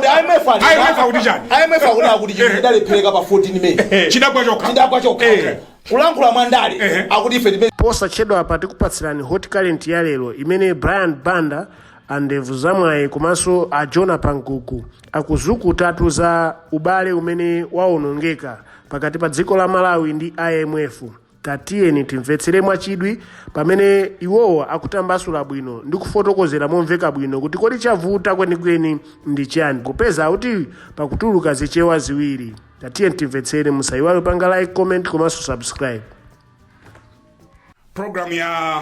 IMF akuti chani? IMF akuti akuti chinthu chidalephereka pa 14 May chidagwa chokha chidagwa chokha Eh. kulankhula mwa ndale Ehe. akuti ife tipe posachedwa apa tikupatsirani hot current ya lero imene brian banda a ndevu zamwayi komanso a jona pankuku akuzukutatu za ubale umene waonongeka pakati pa dziko la malawi ndi imf Tatiyeni timvetsere mwachidwi pamene iwowo akutambasula bwino ndi kufotokozera momveka bwino kuti kodi chavuta kwenikweni ndi chiyani popeza akuti pakutuluka zichewa ziwiri. Tatiyeni timvetsere, musayiwale kupanga like, comment komanso subscribe. Program ya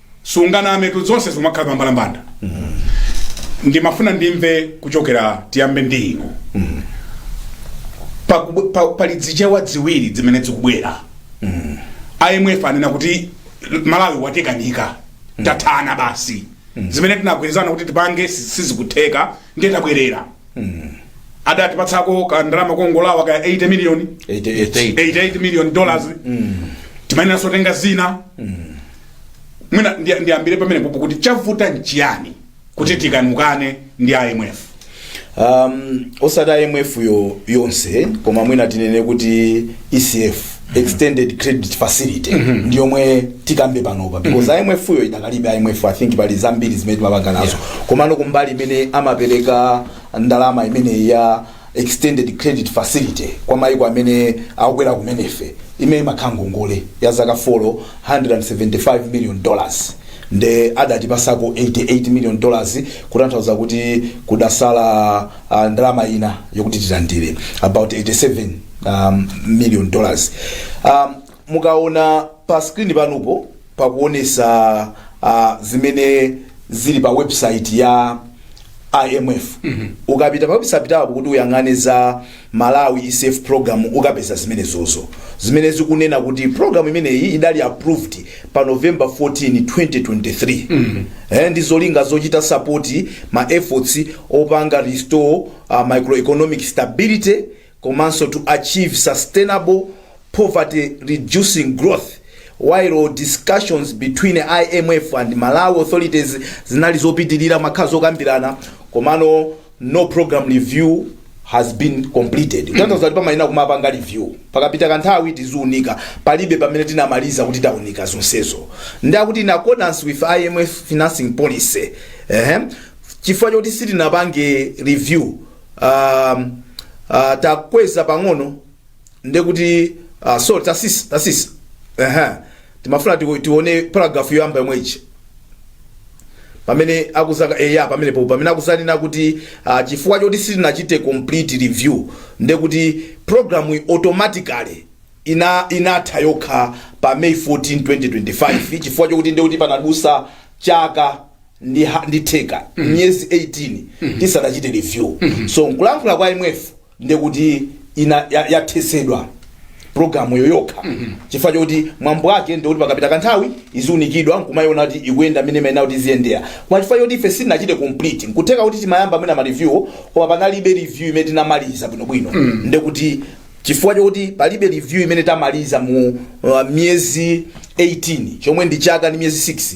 sungana ametu zonse zikumakhala pambalambanda ndimafuna ndimve kuchokera tiyambe ndi inu Pa- pa- pali dzichewa dziwiri dzimene dzikubwera imf anena kuti malawi watekanika tathana basi zimene tinagwirizana kuti tipange si- sizikutheka ndiye tabwerera adatipatsako kandalama kongolowa ka 80 miliyoni 88 88 million dollars timayenera so kutenga zina mwina ndi- ndiyambire pamenepopo kuti chavuta nchiyani kuti tikanukane ndi imf um, osati imf yo yonse koma mwina tinene kuti ecf extended credit facility ndi yomwe tikambe panopa because imf yo idakalibe imf i think pali zambiri zimene timapanga nazo komano kumbali imene amapereka ndalama imeneyi ya Extended Credit Facility kwa maiko amene akukwera kumene ife imene imakhala ngongole ya zaka folo 175 million dollars nde adatipasako 88 million dollars kutanthauza kuti kudasala uh, ndalama ina yokuti tilandire about 87 um, million dollars um, mukaona pa screen panupo pakuonesa uh, zimene zili pa website ya imf ukapita pa website apo kuti uyang'ane za malawi ecf program ukapeza zimenezozo zimene zikunena kuti program imeneyi idali approved pa november 14 2023 eh, ndi zolinga zochita sapoti ma efforts opanga restore uh, macroeconomic stability komanso to achieve sustainable poverty-reducing growth, while discussions between IMF and Malawi authorities zinali zopitilira mumakhala zokambirana komano no program review has been completed kutanthauza kuti pamayenera kumapanga review pakapita kanthawi tiziunika palibe pamene tinamaliza kuti taunika zonsezo ndi akuti in accordance with imf financing policy ehem chifukwa choti sitinapange review uh, uh, takweza pang'ono ndekuti uh, sorry tasisa tasisa uh-huh. timafuna tiwo- tione paragraph yoyamba yomweyi pamene akuzaka eya pamene po pamene akuzanena kuti uh, chifukwa choti sitinachite complete review ndekuti programu automatically ina inatha yokha pa may 14 2025 chifukwa chokuti ndekuti panadutsa chaka ndi, ha- ndi theka miyezi 18 tisanachite review so nkulankhula kwa imf ndekuti ina ya- yathesedwa programu yo yokha chifukwa choti mwambo wake ndikuti pakapita kanthawi iziunikidwa nkumayiona kuti ikuyenda mmene imayenera kuti iziyendera koma chifukwa choti ife sitinachite complete nkutheka kuti timayamba mwina ma review koma panalibe review imene tinamaliza bwinobwino ndekuti chifukwa chokuti palibe review imene tamaliza mu uh, miyezi 18 chomwe ndi chaka ndi miyezi 6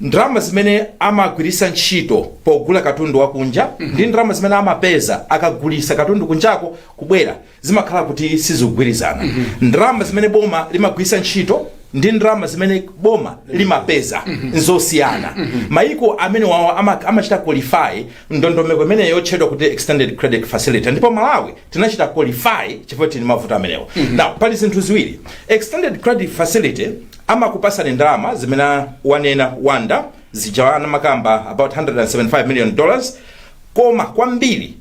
ndalama zimene amagwiritsa ntchito pogula katundu wakunja ndi ndalama zimene amapeza akagulitsa katundu kunjako kubwera zimakhala kuti sizikugwirizana ndalama zimene boma limagwiritsa ntchito ndi ndalama zimene boma limapeza nzosiyana maiko amenewawo ama- amachita qualify ndondomeko imeneyo yotchedwa kuti extended credit facility ndipo malawi tinachita qualify chifukwa tili mavuto amenewo now pali zinthu ziwiri extended credit facility amakupasani ndalama zimene wanena wanda zija wanamakamba about 175 million dollars koma kwambiri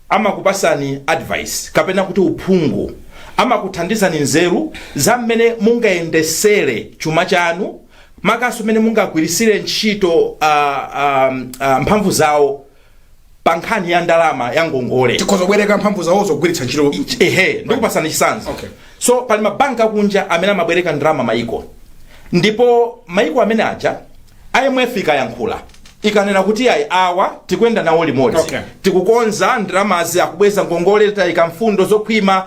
amakupasani advice kapena kuti uphungu amakuthandizani nzeru za mmene mungayendesere chuma chanu makanso mmene mungagwirisire ntchito uh, um, uh, mphamvu zawo pa nkhani ya ndalama ya ngongole tikhoza kubwereka mphamvu zawo zogwiritsa ntchito ehe ndikupasani chisanzo Okay. so pali mabanki akunja amene amabwereka ndalama maiko ndipo maiko ameneaja imf ikayankhula ikanena kuti ayi awa tikuyenda nawo limodzi Okay. tikukonza ndalamazi akubweza ngongole tayika mfundo zokhwima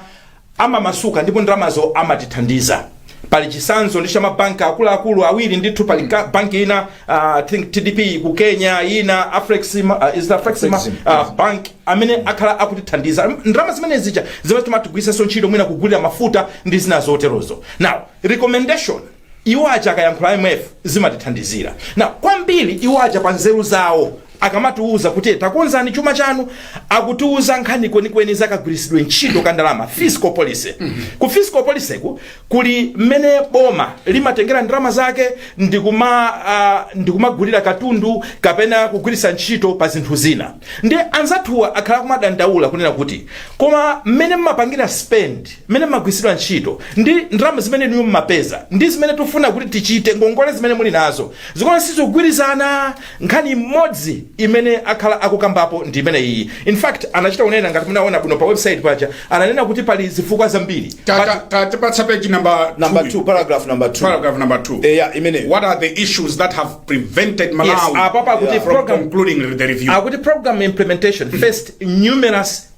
amamasuka ndipo ndalamazo amatithandiza pa chisanzo ndi cha mabanki akuluakulu awiri ndithu pali ka- banki ina uh, I think tdb ku kenya ina afrexima uh, is it afrexima Afrexima. uh, bank amene akhala akutithandiza ndalama zimene zija zimene timatigwiritsanso ntchito mwina kugulira mafuta ndi zina zoterozo now recommendation Iwo aja akayankhula imf zimatithandizira. Now kwambiri iwo aja pa nzeru zawo akamatiuza kuti takonzani chuma chanu akutiuza nkhani kwenikweni za kagwiritsidwe ntchito ka ndalama fiscal policy. Ku fiscal policy ku kuli mmene boma limatengera ndalama zake ndikuma uh, ndikumagulira katundu kapena kugwiritsa ntchito pa zinthu zina. Nde anzathuwa akhala akumadandaula kunena kuti koma mmene mmapangira spend mmene imagwiritsidwa ntchito ndi ndalama zimene inuyo mmapeza ndi zimene tikufuna kuti tichite ngongole zimene muli nazo zikuoneka sizikugwirizana nkhani imodzi imene akhala akukambapo ndi imeneyi in fact anachita kunena ngati munaona bwino pa website paja ananena kuti pali zifukwa zambiri Ta- But- ta- ta- tapatsa page number number two. 2 paragraph number 2 paragraph number 2 Eh, yeah, imene what are the issues that have prevented malawi apa pakuti from program- concluding the review akuti program implementation faced numerous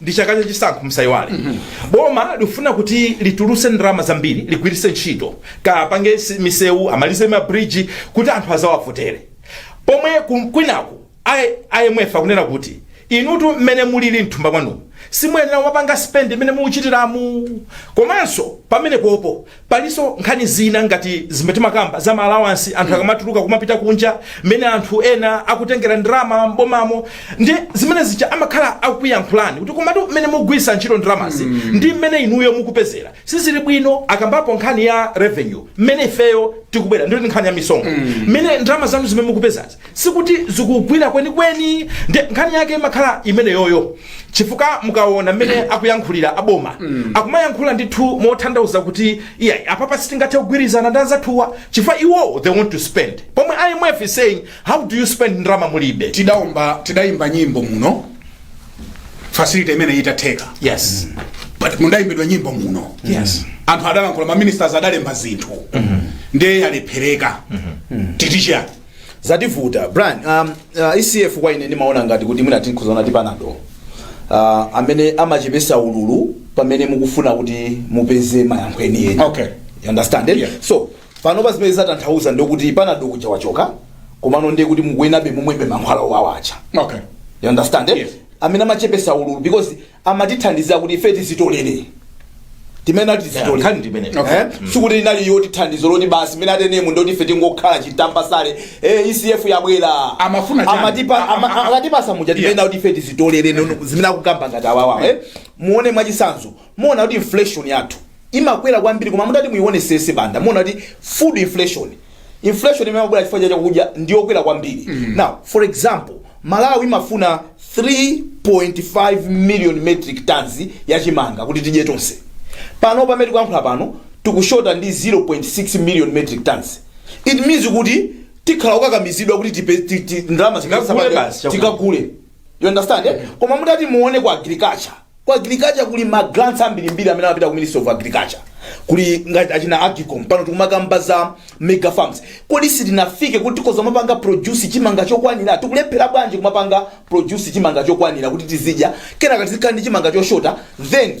ndi chaka cha chisankho musayiwale boma likufuna kuti litulutse ndalama zambiri ligwiritse ntchito akapange si- misewu amalize mabridge kuti anthu azawavotere pomwe ku- kwinaku I- imf akunena kuti inutu mmene mulili mthumba mwanu simuyenera kumapanga spend mmene mukuchitiramu komanso pamenepopo Palinso nkhani zina ngati zimene timakamba za ma allowance anthu akamatuluka kumapita kunja, mmene anthu ena akutengera ndalama m'bomamo. Ndiye zimene zija amakhala akukuyankhulani kuti komatu mmene mukugwiritsa ntchito ndalamazi ndi mmene inuyo mukupezera sizili bwino. Akambapo nkhani ya revenue, mmene ifeyo tikubwera ndi nkhani ya misonkho, mmene ndalama zanu zimene mukupezazi. sikuti zikugwira kwenikweni nde nkhani yake imakhala imeneyoyo chifukwa mukaona mmene akuyankhulira aboma akumayankhula ndithu motanthauza kuti iyayi apapa sitingathe kugwirizana ndi anzathuwa chifukwa iwowo they want to spend pomwe imf is saying how do you spend ndalama mulibe tidaimba tidayimba nyimbo muno facility imene itatheka yes but mudaimbidwa nyimbo muno yes anthu adalankhula maministers adalemba zinthu ndiye yalephereka titi chani zativuta brian um, uh, ecf kwa ine ndimaona ngati kuti mwina tingozaona ngati panado uh, amene amachepesa ululu pamene mukufuna kuti mupeze mayankho enieni Okay. You understand eh? Yeah. so panopa zimene zatanthauza ndikuti panado uja wachoka komano ndiye kuti mukuyenerabe mumwebe mankhwala owawa aja okay You understand? Eh? Yes. amene amachepesa ululu because amatithandiza kuti ife tizitolere timene ati Yeah, tizitolere nkhani ndi imeneyo. Okay. Eh? sikuti inali yoti thandizo loti basi mmene ateremu ndiye kuti ife tingokhala titambasale eh, ecf yabwera Amafuna chani? Amatipa- A- a- ama- a- akatipasa muja Yeah. timene kuti ife tizitolere nono zimene akukamba ngati awawa eh? muone mwachitsanzo muona kuti inflation yathu imakwera kwambiri koma mutati muionesese Banda muona kuti food inflation inflation imene imabwera chifukwa cha chakudya ndi yokwera kwambiri now for example malawi imafuna 3.5 million metric tons ya chimanga kuti tidye tonse pano pamene tikuyankhula pano tikushota ndi 0.6 million metric tons it means kuti tikhala okakamizidwa kuti tipe- ti- ti- ndalama zimene Tikagule tisapate- basi chakudya. tikagule you understand eh? koma mutati muone ku agriculture ku agriculture kuli ma grants ambirimbiri amene amapita ku ministry of agriculture kuli ngati achina AGCOM pano tikumakamba za mega farms kodi sitinafike kuti tikhoza kumapanga produce chimanga chokwanira tikulephera bwanji kumapanga produce chimanga chokwanira kuti tizidya kenaka tizikhala ndi chimanga choshota then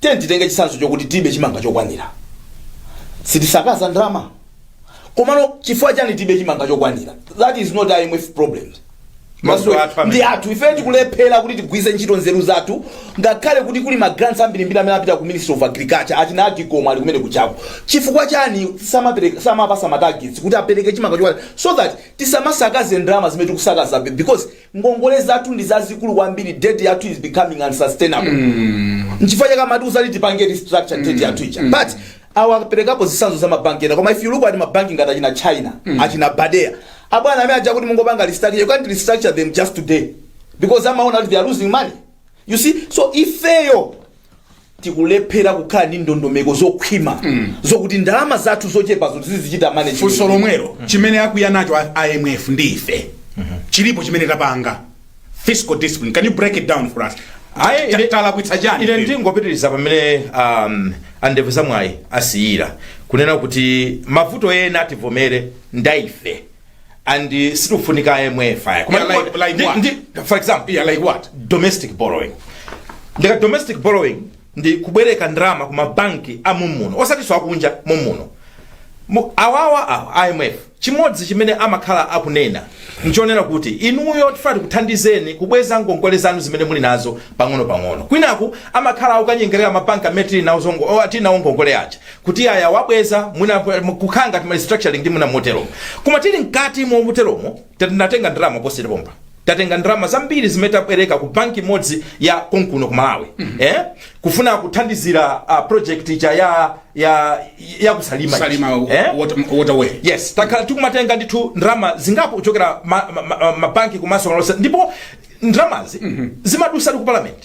Tiyeni titenge chitsanzo chokuti tilibe chimanga chokwanira. Sitisakaza ndalama? Komano chifukwa chani tilibe chimanga chokwanira? That is not IMF problems. Mavuto athu amene. Ndi athu ife tikulephera kuti tigwiritse ntchito nzeru zathu ngakhale kuti kuli ma grants ambirimbiri amene apita ku Ministry of Agriculture achina AGCOM ali kumene kujaku. Chifukwa chani samapereka samapasa ma targets kuti apereke chimanga chokwanira so that tisamasakaze ndalama zimene tikusakaza because ngongole zathu ndi zazikulu kwambiri debt yathu is becoming unsustainable nchifukwa chake amatiuza kuti tipange restructure debt yathu ija but awaperekapo zitsanzo za mabanki ena koma if you look at mabanki ngati achina china achina badea abwana amene aja kuti mungopanga restructure you can't restructure them just today because amaona kuti they are losing money you see so ifeyo tikulephera kukhala ndi ndondomeko zokhwima zokuti ndalama zathu zochepazo tizizichita manage funso lomwelo chimene akwiya nacho a- imf ndi ife chilipo chimene tapanga fiscal discipline can you break it down for us Ayi, Ta- ine- talakwitsa chani ine ife? ndingopitiriza pamene um, andevu zamwayi asiyira kunena kuti mavuto ena tivomere ndaife and uh, sitikufunika imf ayi koma Yeah, like- ndiko- like ndi- what? ndi- for example yeah, like what domestic borrowing ndika domestic borrowing ndi kubwereka ndalama ku mabanki a mumuno osati za akunja mumuno Mu- awawa awa imf chimodzi chimene amakhala akunena nchonena kuti inuyo tifuna tikuthandizeni kubweza ngongole zanu zimene muli nazo pang'ono pang'ono kwinaku amakhala akukanyengerera mabanki amene tili nawo zongo- o, tili nawo ngongole aja kuti ayi awabweza mwina kukhala ngati ma restructuring ndi mwina moteromo koma tili mkati moteromo tinatenga ndalama posachedwapa pompa tatenga ndalama zambiri zimene tabwereka ku banki imodzi ya konkuno ku malawi eh? kufuna kuthandizira uh, project ija ya ya ya kusalima salima eh? water- waterway yes takhala tikumatenga ndithu ndalama zingapo kuchokera mabanki ma, ma, ma mabanki komanso malonse ndipo ndalamazi zimadusa ndi ku parliament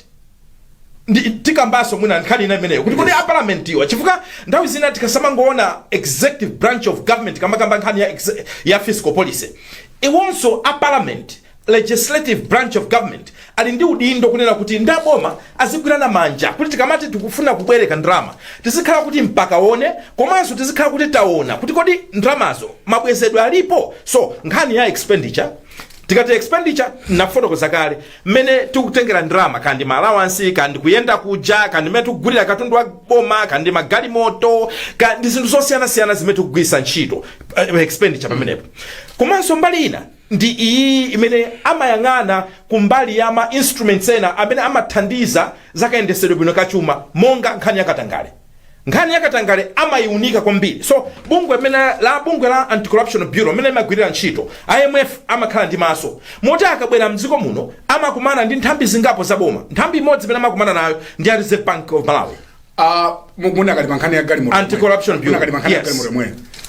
ndi tikambanso mwina nkhani ina imeneyo kuti kodi a parliament iwa chifukwa nthawi zina tikasamangoona executive branch of government kamakamba nkhani ya, exe- ya fiscal policy iwonso a parliament legislative branch of government ali ndi udindo kunena kuti ndi aboma azigwirana manja kuti tikamati tikufuna kubwereka ndalama tizikhala kuti mpaka wani komanso tizikhala kuti taona kuti kodi ndalamazo mabwezedwe alipo so nkhani ya expenditure tikati expenditure nafotokoza kale mmene tikutengera ndalama kaya ndi maalawansi kaya ndi kuyenda kuja kaya ndi mmene tikugulira katundu wa boma kaya ndi magalimoto kaya ndi zinthu zosiyanasiyana zimene tikugwiritsa ntchito eh, expenditure pamenepo komanso mbali ina ndi iyi imene amayang'ana kumbali ya ma instruments ena amene amathandiza zakayendesedwe bwino kachuma monga nkhani yakatangale nkhani ya katangale amayiunika kwambiri so bungwe mene la bungwe la anti-corruption bureau mene imagwirira ntchito imf amakhala ndi maso moti akabwera mdziko muno amakumana ndi nthambi zingapo za boma nthambi imodzi imene amakumana nayo ndi a reserve bank of malawi Ah, mu- munakali pankhani ya galimoto Anti-corruption bureau. munakali pankhani ya Yes. galimoto momwe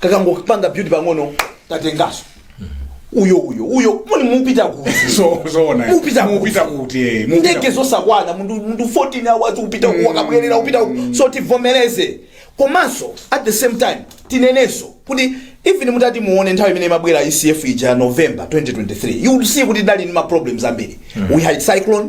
kakangopanga build pang'ono tatengaso uyo uyo uyo muli mupita kuti So- zoona eh. Mupita kuti. Mupita kuti eh, mupita ndege kuti. zosakwana munthu munthu 14 hours upita uku wakabwerera upita uku so tivomereze komanso at the same time tinenenso kuti even mutati muone nthawi imene imabwera ecf ija november 2023 you will see kuti tidali ndi ma problems ambiri we had cyclone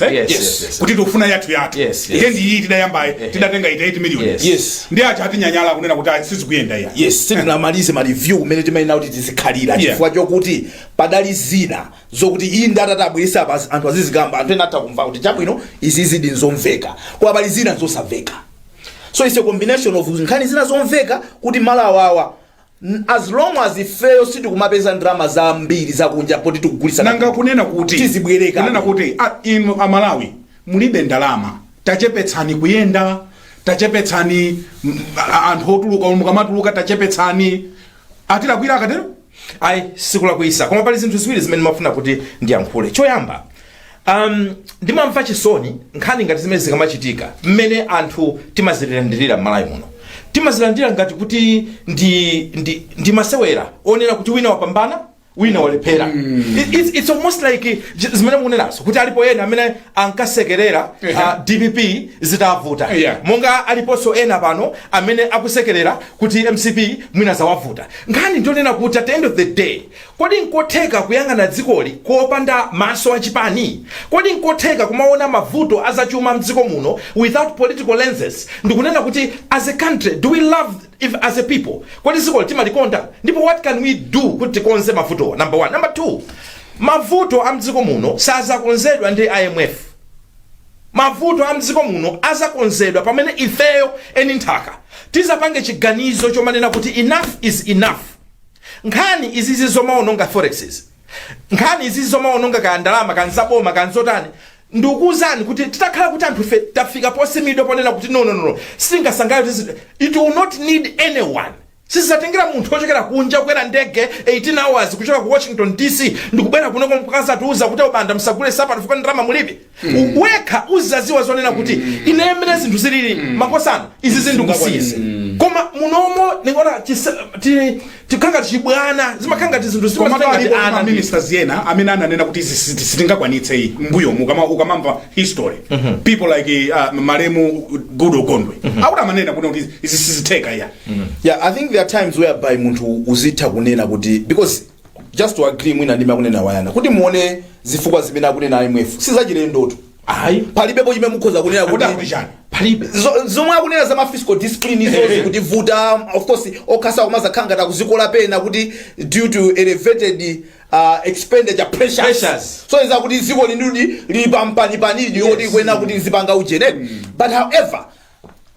Yes, yes, yes, yes. kuti tikufuna yathu yathu Yes, yes. eti ndi iyi tidayambayi tidatenga eti 8 million Yes. Yes. ndi aja atinyanyala kunena kuti ayi, sizikuyenda iya yes sitinamalize ma review kumene timayenera kuti tizikhalira Yeah. chifukwa chokuti padali zina zokuti iyi ndi atati abweresa apa anthu azizikamba anthu ena atha kumva kuti chabwino izizidi nzomveka koma pali zina zosamveka so it's a combination of nkhani zina zomveka kuti malo awawa N as long as ifeyo sitikumapeza ndalama zambiri zakunja poti tikugulitsa nanga katundu. kunena kuti Tizibwereka. kunena kuti a, inu amalawi mulibe ndalama tachepetsani kuyenda tachepetsani mm, a- anthu otuluka umu mukamatuluka tachepetsani atilakwira akatero ayi sikulakwisa koma pali zinthu ziwiri zimene ndimafuna kuti ndiyankhule choyamba Um, ndimamva chisoni nkhani ngati zimene zikamachitika mmene anthu timazilandirira m'malawi muno timazilandira ngati kuti ndi, ndi, ndi masewera onena kuti wina wapambana wina walephera It- it's, it's almost like j- zimene mukunenazo kuti alipo ena amene ankasekerera uh, dpp zitawavuta Yeah. monga aliponso ena pano amene akusekerera kuti mcp mwina zawavuta nkhani ndi yonena kuti at the end of the day Kodi nkotheka kuyang'ana dzikoli kopanda maso a chipani? Kodi nkotheka kumaona mavuto a zachuma mdziko muno without political lenses ndikunena kuti as a country do we love ife as a people kodi dzikoli timalikonda ndipo what can we do kuti tikonze mavutowa number one. Number two, mavuto a mdziko muno sazakonzedwa ndi IMF. Mavuto a mdziko muno azakonzedwa pamene ifeyo eni nthaka tizapange chiganizo chomanena kuti enough is enough. nkhani izizi zomaononga forex izi nkhani izizi zomaononga kaya ndalama kaya nzaboma kaya nzotani ndikuwuzani kuti titakhala kuti anthu ife tafika posimidwa ponena kuti no no no no, singasangalale kuti zinthu- it will not need anyone sizatengera munthu wochokera kunja kukwera ndege 18 hours kuchoka ku washington dc ndikubwera kunoko mkuzatiuza kuti a Banda msagule nsapato chifukwa ndalama mulibe U- wekha uzaziwa zonena kuti ine mmene zinthu zilili makosana izi zinthu kusiyitsa koma munomo ndikuona chisa- ti- tikhangati chibwana zimakhanga ngati zinthu koma zimatenga ngati palipo ana ma ndi- ministers ena amene ananena kuti izi siti- sitingakwanitse iyi mbuyo mukama ukamamva history people like uh, malemu goodall gondwe akuti amanena kuti kuti izi sizitheka iyayi yeah i think there are times whereby munthu uzitha kunena kuti because just to agree mwina ndi zimene akunena wa ujeni kuti muone zifukwa zimene akunena imf sizachilendotu ayi palibepo chimene mukhoza kunena kuti Kuda kuti chani? palibe Zo- zomwe akunena za ma fiscal discipline izozi kuti vuta of course okhatsa kumazakhala ngati akuzikola pena kuti due to elevated uh, expenditure pressures, Pressures. osonyeza kuti dziko lathudi lili pampanipani yes. yoti kunena kuti zipanga ujeneri but however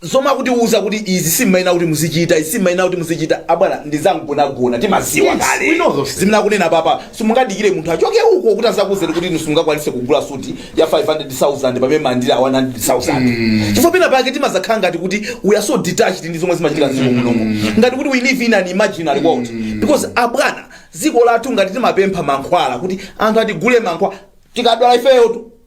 zomwe akutiuza kuti izi simuyenera kuti muzichita izi simuyenera kuti muzichita abwana ndizangonagona timaziwa Yes, kale we know those things. zimene akunena papa simungadikire munthu achoke uko kuti azakuuzeni kuti inu simungakwanise kugula suti ya 500000 pamene mumalandira 100000 chifukwa pena pake timazakhala ngati kuti we are so detached ndi zomwe zimachitika mdziko munomo ngati kuti we live in an imaginary world because abwana dziko lathu ngati timapempha mankhwala kuti anthu atigulire mankhwala tikadwala ifeyo tu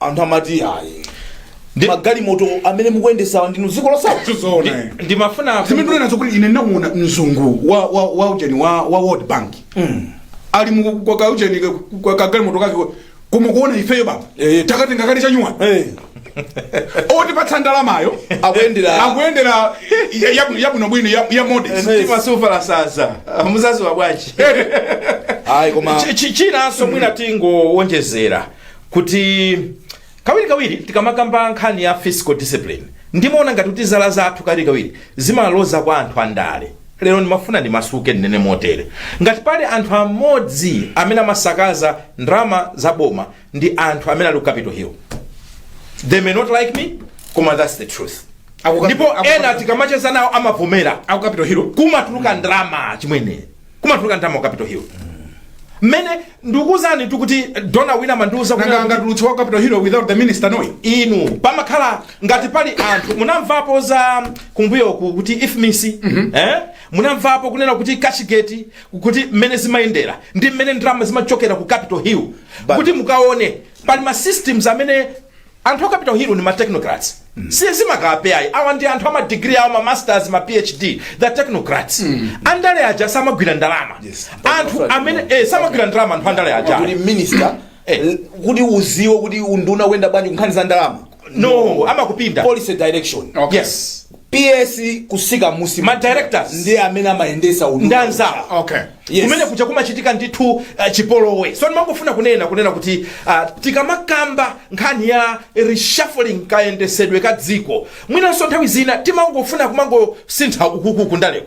anthu amati ayi Ndi- magalimoto amene mukuyendesawa ndinu dziko losauka ndizoona eh. Ndi- ndimafuna ndinene nazo kuti ine ndinamuona mzungu wa wa wa ujeni wa wa world bank ali mu kwa ka ujeni ka- kwa kagalimoto kake koma kuona ifeyo baba Eh. takatenga kale chanyuwa Eh, otipatsa ndalamayo akuyendera akuyendera ya- ya- yabwinobwino ya- ya modest Eh. mtima susefa sasa muzadziwa bwanji ayi koma Chi- chi- chinanso mwina tingowonjezera kuti kawirikawiri tikamakamba nkhani ya fiscal discipline ndimaona ngati kuti zala zathu kawirikawiri zimaloza kwa anthu andale lero ndimafuna ndimasuke ndinene motere ngati pali anthu amodzi amene amasakaza ndalama za boma ndi anthu amene ali ku capital hill they may not like me koma that's the truth Akuka- ndipo akuka- ena tikamacheza nawo amavomera aku capital hill kumatuluka ndalama chimwene kumatuluka ndalama ku capital hill mmene ndikuuzani ndikuti dona wina amandiuza kuti- nanga angatulutse wa capital hill without the minister knowing inu pamakhala ngati pali anthu munamvapo za kumbuyoku kuti ifmis eh? munamvapo kunena kuti cashgate kuti mmene zimayendera ndi mmene ndalama zimachokera ku capital hill kuti mukaone pali ma systems amene anthu aku capital hill ndi ma technocrats si zimakape ayi awa ndi anthu ama degree awo ma masters ma phd the technocrats andale aja samagwira ndalama Yes. anthu amene eh, samagwira ndalama anthu andale aja kuti minister Eh. l- kuti uziwe kuti unduna ukuyenda bwanji kunkhani za ndalama no amakupinda policy direction Okay. yes PS kusika musi. Ma directors. Ndiye amene amayendesa unduna. Ndanzala okay Yes. kumene kuja kumachitika ndithu uh, chipolowe so ndimangofuna kunena kunena kuti uh, tikamakamba nkhani ya reshuffling kayendesedwe ka dziko mwinanso nthawi zina timangofuna kumangosintha ukukuku ndaleko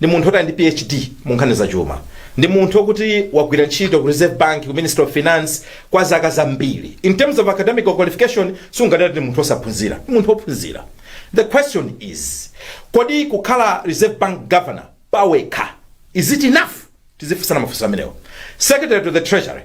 ndi munthu oti ali ndi phd mu nkhani za chuma ndi munthu okuti wagwira ntchito ku reserve bank ku ministry of finance kwa zaka zambiri in terms of academic qualification sungadati ndi munthu osaphunzira ndi munthu ophunzira the question is kodi kukhala reserve bank governor pawekha is it enough tizifunsana mafunso amenewo secretary to the treasury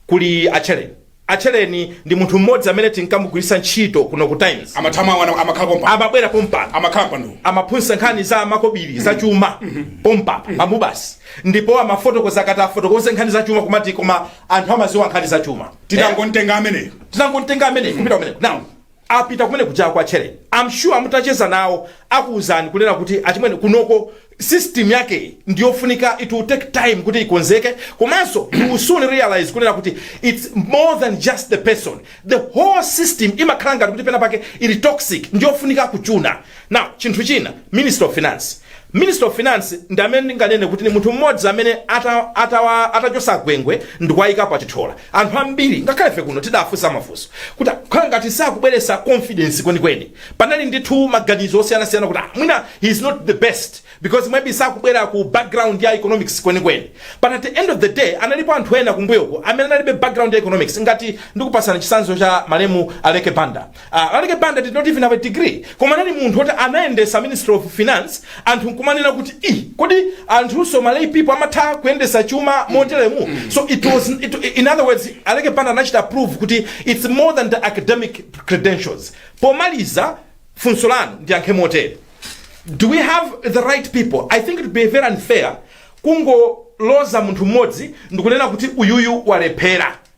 kuli a Tchereni A Tchereni ndi munthu mmodzi amene tinkamugwiritsa ntchito kuno ku Times. amathamango ana- amakhala pompa Amabwera pompano. amakhala pano amaphunzitsa nkhani za makobiri za chuma pompa pamubasi ndipo amafotokoza akati afotokoze nkhani za chuma kumati koma anthu amaziwa nkhani za chuma titangontenga ameneyo tinangontenga ameneyo kupita kumeneko now apita kumene kuja a Tchereni I'm sure mutacheza nawo akuuzani kunena kuti achimwene kunoko system yake ndi yofunika it will take time kuti ikonzeke komanso you will soon realize kunena kuti it's more than just the person the whole system imakhala ngati kuti pena pake ili toxic ndi yofunika kuchuna now chinthu china minister of finance Minister of finance ndi amene ndinganene kuti ndi munthu mmodzi amene ata, atawa, atachosa Gwengwe ndikuwayikapo a Chithyola anthu ambiri ngakhale ife kuno tidafunsa mafunso kuti khala ngati sakubweresa confidence kwenikweni panali ndithu maganizo osiyanasiyana kuti ah, mwina he is not the best because maybe sakubwera ku background ya economics kwenikweni but at the end of the day analipo anthu ena kumbuyoko amene analibe background ya economics ngati ndikupasana chisanzo cha malemu Aleke Banda Aleke Banda did not even have a degree koma anali munthu oti anayendesa ministry of finance anthu nkumanena kuti i kodi anthunso malay people amatha kuyendesa chuma moteremu so it was it, in other words Aleke Banda anachita prove kuti it's more than the academic credentials pomaliza funso lanu ndiyankhe motere do we have the right people i think it would be very unfair kungoloza munthu mmodzi ndikunena kuti uyuyu walephera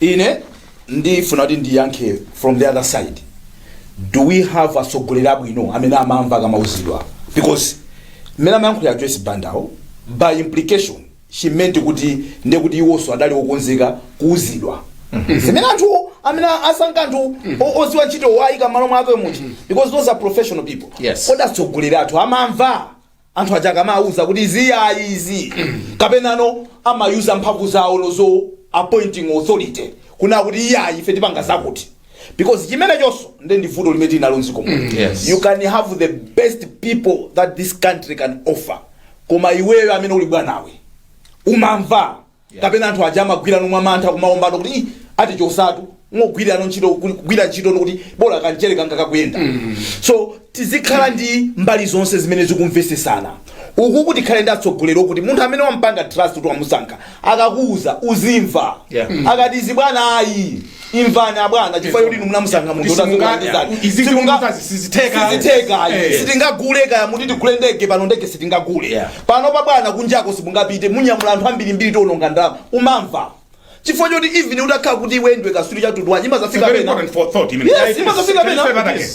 ine ndifuna kuti ndiyankhe from the other side do we have atsogoleri abwino amene amamva akamauzidwa because mmene amayankhulira a Joyce Bandawo by implication she meant kuti ndiye kuti iwonso adali okonzeka kuuzidwa zimene anthu amene wasankha anthu o- oziwa ntchito wayika mmalo mwake muchi because those are professional people Yes. kodi atsogoleri athu amamva anthu aja akamawuza kuti izi iyayi izi kapena no amayuza mphamvu zawo zo za appointing authority kunena kuti iyayi ife tipanga zakuti because chimenechonso nde ndi vuto limene tili nalo mdziko muno yes. you can have the best people that this country can offer koma iweyo amene uli bwanawe umamva kapena anthu aja amagwira mwa mantha kumaopano kuti "Ih, atichosatu kungogwirano ntchito kuli- kugwira ntchito ndikuti bola kanchere kanga kakuyenda so tizikhala ndi mbali zonse zimene zikumvesesana uku tikhale ndi atsogoleri okuti munthu amene wampanga trust kuti wamusankha akakuuza uzimva Yeah. akati izi bwana ayi imvani abwana chifukwa choti inu munamusankha munthu sitingagule kaya muti tigule ndege pano ndege sitingagule Yeah. pano pa bwana kunjako simungapite mukunyamula anthu ambirimbiri tiononga ndalama umamva chifukwa choti even utakhala kuti iwe ndiwe kaswiri wa mtundu wanji imazafika pena Very important for thought. I mean, Yes, imazafika pena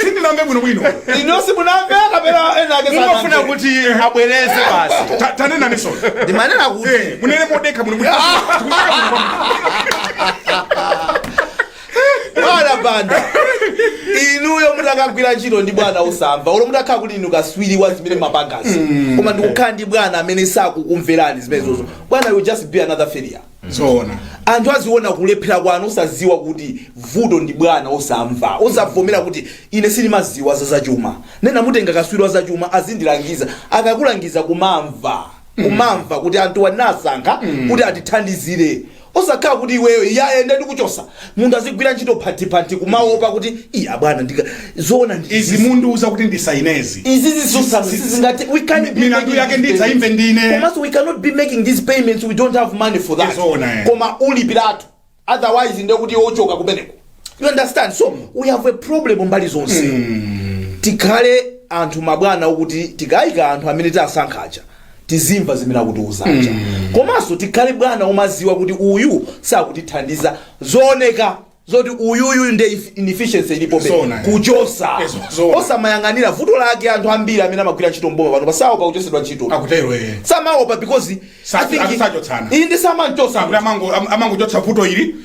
sindinamve bwinobwino inunso munamve kapena ena ake mungofuna kuti abwereze basi Ta- tanenaniso ndimanena kuti Eh, munene modekha muno bwana banda inuyo mutakagwira ntchito ndi bwana osamva olo mutakhala kuti inu kaswiri wa zimene mumapangazi koma ndikukhala ndi bwana amene sakukumverani zimenezozo bwana you'll just be another failure zoona anthu aziona kulephera kwanu osaziwa kuti vuto ndi bwana osamva osavomera kuti ine sindimaziwa za zachuma ndinamutenga kaswiri wa zachuma azindilangiza akakulangiza kumamva kumamva kuti anthuwa nasankha kuti atithandizire osakhala kuti iweyo iyaye nde ndikuchosa munthu azigwira ntchito mwaphatiphati kumaopa kuti i abwana ndikati zoona ndi izi mukundiuza kuti ndisainezi izi zisusa sizingati we can't be Milandu making yake these ndidzaimve payments. ndine. komanso we cannot be making these payments we don't have money for that Yes, ona, eh. koma ulipiratu otherwise ndiye kuti uchoka kumeneko you understand so we have a problem mbali zonse tikhale anthu mabwana okuti tikayika anthu amene tawasankha aja tizimva zimene akutiuza aja komanso tikhale bwana omaziwa kuti uyu sakutithandiza zooneka zoti uyuyu nde if- inefficiency ilipo Zona. kuchosa Yes, zona. osamayang'anira vuto lake anthu ambiri amene amagwira ntchito mboma panopa saopa kuchosedwa ntchito akutero eh samaopa because Sa- I think- asachotsana. inde samanchosa kuti amango- am- amangochotsa vuto ili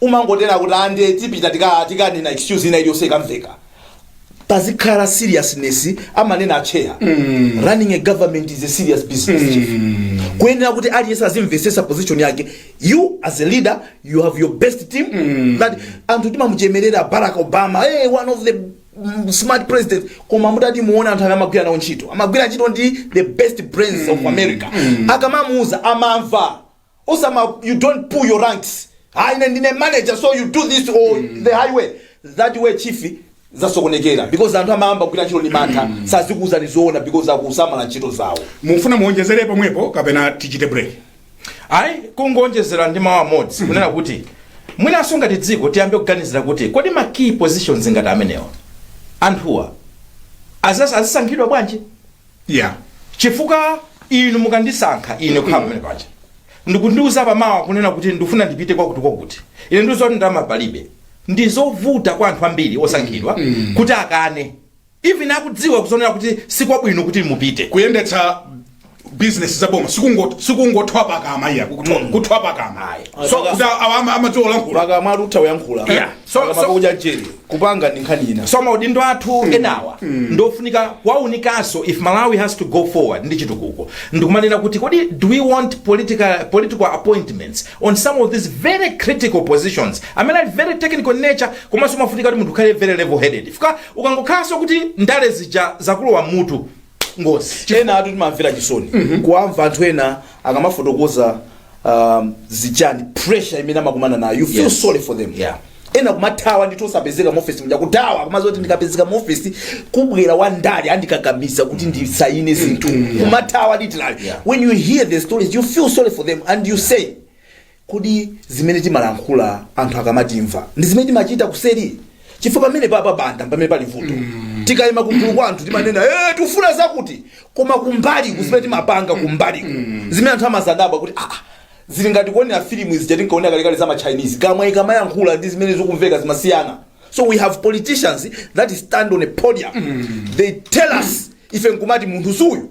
umangonena kuti ah ndiye tipita tika- tikanena excuse ina iliyonse ikamveka pazikhala seriousness amanena atcheya running a government is a serious business kuyenera kuti aliyense azimvesesa position yake you as a leader you have your best team that anthu timamuchemerera barack obama hey, one of the mm, smart presidents koma mutati muona anthu amene amagwira nawo ntchito amagwira ntchito ndi the best brains of america akamamuuza amamva osama you don't pull your ranks ah ine ndine manager so you do this or the highway that way chief zasokonekera because anthu amayamba kugwira ntchito ndi mantha sazikuuzani zoona because akusamala ntchito zawo mufuna muonjezere pomwepo kapena tichite break ayi kungoonjezera ndi mawu amodzi kunena kuti mwinanso ngati dziko tiyambe kuganizira kuti kodi ma key positions ngati amenewa anthuwa azas- azisankhidwa bwanji ya chifukwa inu mukandisankha ine kukhala pamene paja n'kundiuza pamawa kunena kuti ndikufuna ndipite kwakuti kwakuti ine ndiziti ndalama palibe ndi zovuta kwa anthu ambiri osankhidwa kuti akane even akudziwa kudzionera kuti sikwabwino kuti mupite kuyendetsa bizinesi za boma sikungo- sikungothwa pakamwa iyayi kuthwa- kuthwa pakamwa Ayi. so kuti awa ama- amatha kulankhula pakamwa akutha kuyankhula Yeah. So- so- pakamwa koma nzeru kupanga ndi nkhani ina so maudindo athu enawa ndofunika kuwaunikanso if malawi has to go forward ndi chitukuko ndikumanena kuti kodi do we want political, political appointments on some of these very critical positions amene ali very technical in nature komanso umafunika kuti munthu ukhale very level headed chifukwa ukangokhalanso kuti ndale zija zakulowa mutu ngozi enatu timamvera chisoni kuwamva anthu ena akamafotokoza um, zijazi pressure imene amakumana nayo you feel Yes. sorry for them Yeah. ena kumathawa ndithu osapezeka mu office muja kuthawa kumati kuti ndikapezeka mu office kubwere wa ndale andikakamiza kuti ndisayine zinthu kumathawa literally Yeah. when you hear the stories you feel sorry for them and you say Kodi zimene timalankhula anthu akamatimva ndi zimene timachita kuseri? Chifukwa pamene papa mpamene pali vuto. Tikayima pagulu kwa anthu timanena eh tufuna zakuti koma kumbali kuli zimene timapanga kumbali. Zimene anthu amazadabwa kuti ah ah, zili ngati kuonera filimu zija tinkaonera kalekale za ma Chinese. Kamwa ikamayankhula ndi zimene zikumveka zimasiyana. So we have politicians that stand on a podium. They tell us ife nkumati munthu suyu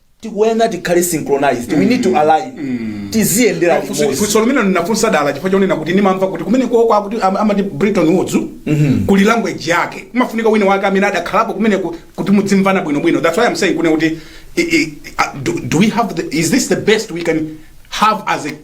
tikuyenera tikhale synchronized we need to align tiziyendera Funso- limodzi funso limene ndinafunsa dala chifukwa chonena kuti ndimamva kuti kumeneko kwakuti am- amati Bretton Woods kuli language yake umafunika wina wake amene adakhalapo kumene ku- kuti mudzimvana bwinobwino that's why i'm saying kunena kuti i- i- uh, do, do we have the, is this the best we can have as a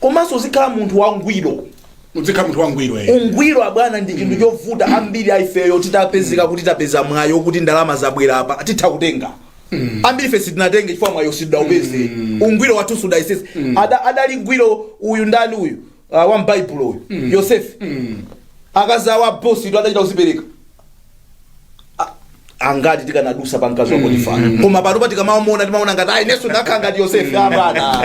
komanso uzikhala munthu wangwiro udzikhala munthu wangwiro eh. ungwiro abwana ndi chinthu chovuta ambiri aifeyo titapezeka kuti tapeza mwayi woti ndalama zabwera apa titha kutenga ambiri ife sitinatenge chifukwa mwayo sitidaupeze ungwiro wathu sudayesedwe Ada- adali wangwiro uyu ndani uyu ah, wa mbaibulo uyu yosefe akazi awo a bositu adachita kuzipereka angati tikanadusa pa mkazi wa potifara koma panopa tikamamuona timaona ngati ayi nenso ndikanakhala ngati yosefe abwana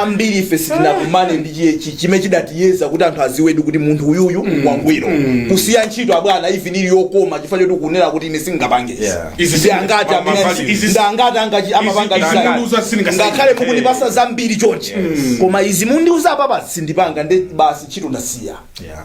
ambiri ife sitinakumane ndi chi- chi- chimene chidatiyesa kuti anthu adziwedi kuti munthu uyuyu wangwiro kusiya ntchito abwana even ili yokoma chifukwa choti kunena kuti ine sindingapange izi. Yeah. Izi Ndi angati ma- amene- ma- izi- ndi angati angachi- amapanga izi- design. izizi sindingasayine. ngakhale mukundipatsa zambiri chonchi koma izi mundiuza apapa sindipanga ndi basi ntchito ndasiya Yeah.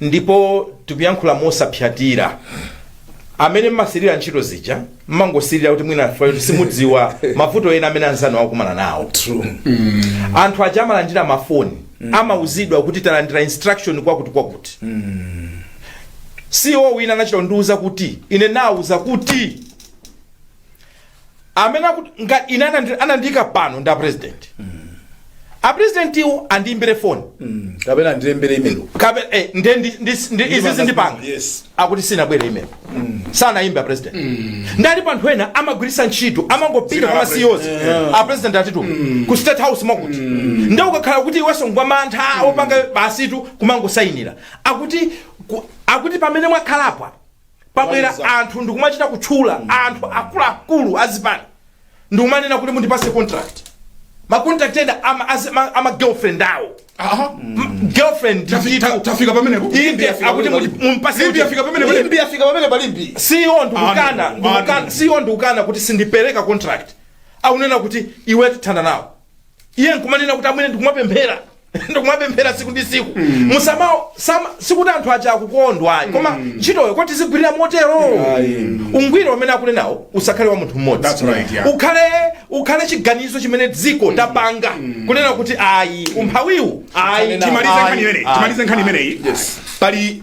ndipo tikuyankhula mosapsyatira amene mmasirira ntchito zija mmangosirira kuti mwina chifukwa choti simudziwa mavuto ena amene anzanu akukumana nawo true anthu aja amalandira mafoni amauzidwa kuti talandira instruction kwakuti kwakuti ceo wina anachita kundiuza kuti ine nauzidwa kuti amene akuti ngati ine anandi- anandiyika pano ndi apresident apresidentiwo andiyimbire foni kapena andilembere email kabe eh, nde ndi- ndi- ndi- izi Ndipanga- zindipanga yes. akuti sinabwere email sanayimba president nde alipo anthu ena amagwiritsa ntchito amangopita Zina kwa ma CEOs a president atituma ku state house mwakuti nde ukakhala kuti iwenso ngwa mantha ukupanga basitu kumangosayinira akuti ku- akuti pamene mwakhalapwa pabwera Kumaliza. anthu nkumachita kutchula anthu akuluakulu azipani ndikumanena kuti mundipase contract macontract ena ama, azi- ma- ama girlfriend awo Aha. M- girlfriend Tafi- ndithu. ta- tafika pamenepo Inde, Limbi yafika akuti pamenepo. muli- mumpase Limbi yafika pamenepo Limbi yafika pamene palimbi siyo ndikukana Anu, ndikukana- anu. siyo ndikukana kuti sindipereka contract akunena kuti iwe tithana nawe iye nkumanena kuti amene ndikumapemphera ndikumapemphera siku ndi siku musama sama sikuti anthu aja akukondwa ayi koma ntchitoyo kuti uzigwirira motero ungwiro umene akunenawo usakhale wa munthu mmodzi That's right, yeah. ukhale ukhale chiganizo chimene dziko tapanga kunena kuti ayi umphawiwu ayi Timalize nkhani imeneyi. Timalize nkhani imeneyi. Pali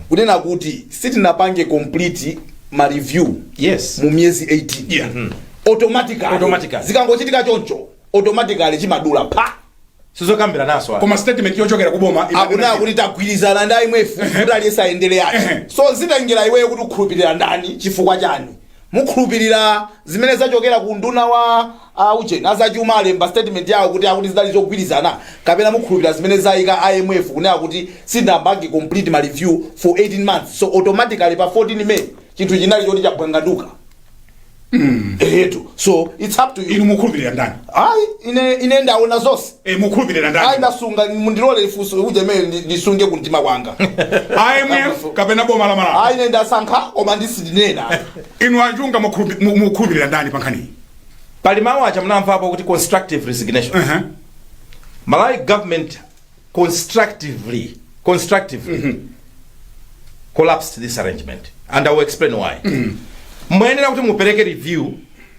kunena kuti sitinapange complete ma review Yes. mu miyezi 18 Yeah. automatically Automatically. zikangochitika choncho automatically chimadula apa sizokambirananso koma statement yochokera kuboma imanena akunena kuti- kuti tagwirizana ndi IMF kuti aliyese ayendere Ehe. yake so zitengera iweyo kuti ukhulupirira ndani chifukwa chani Mukhulupilira zimene zachokera ku unduna wa a ujeni, a zachuma alemba statement yawo kuti akuti zidali zogwirizana kapena mukhulupilira zimene zaika IMF kunena kuti sitinapange complete ma review for 18 months so automatically pa 14 May chinthu chinali choti chabwanganduka? Eetu, so it's up to you. Inu mukhulupilira ndani? Ayi, ine, ine ndaona zonse. Eh, mukhulupirira ndani? ayi ndasunga mundilole ifunso ujeni imene ndi- ndisunge kumtima kwanga IMF kapena boma la Malawi? ayi ine ndasankha koma sindinena Inu a Chunga mukhulupi- mu- mukhulupirira ndani pa nkhaniyi? pali mawu aja munawamvapo kuti constructive resignation Ehe. malawi government constructively constructively collapsed this arrangement and i will explain why muyenera kuti mupereke review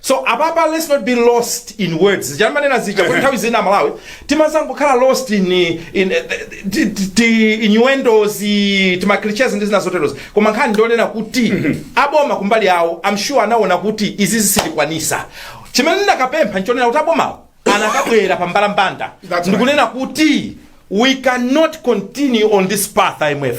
so apapa let's not be lost in words zija ndimanena zija kuti nthawi zina aMalawi timazangokhala lost in in ti- ti- ti- innuendos tima cliches ndi zina zoterozo koma nkhani ndi yonena kuti aboma kumbali yawo i'm sure anaona kuti izi sitizikwanisa chimene ndikadapempha nchonena kuti abomawo anakabwera pa mbalambanda That's right. ndikunena kuti we cannot continue on this path imf